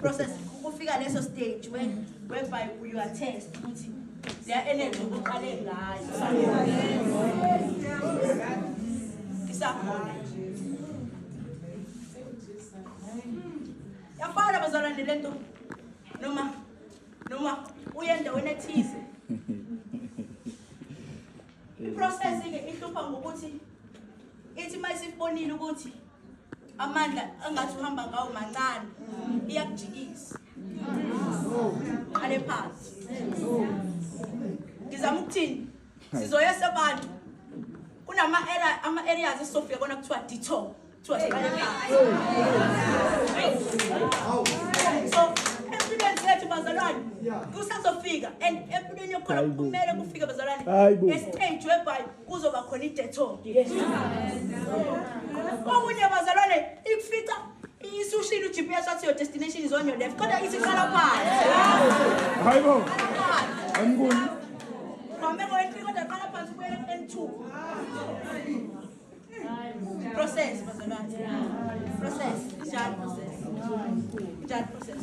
process kufika leso stage when whereby you are test ukuthi le energy oqale ngayo isakhona yafana bazalwane le nto noma noma uye endaweni ethize iprocess-ke ihlupha ngokuthi ithi uma isibonile ukuthi amandla angathi uhamba ngawo mancane iyakujikisa qale phansi ngizama ukuthini sizoyesa abantu kunama ama areas esizofika kona kuthiwa detox kuthiwa siqale phansi so empilweni zethu bazalwane kusazofika and empilweni yokukhona kumele kufike bazalwane estage webhayi kuzoba khona idetho okunye bazalwane ikufica isushile u-gps wathi your destination is on your left kodwa isiqala phansi hayibo angikuni mame ngoyentri kodwa qala phansi ubuyele ku-n2 process bazalwane process njalo process njalo process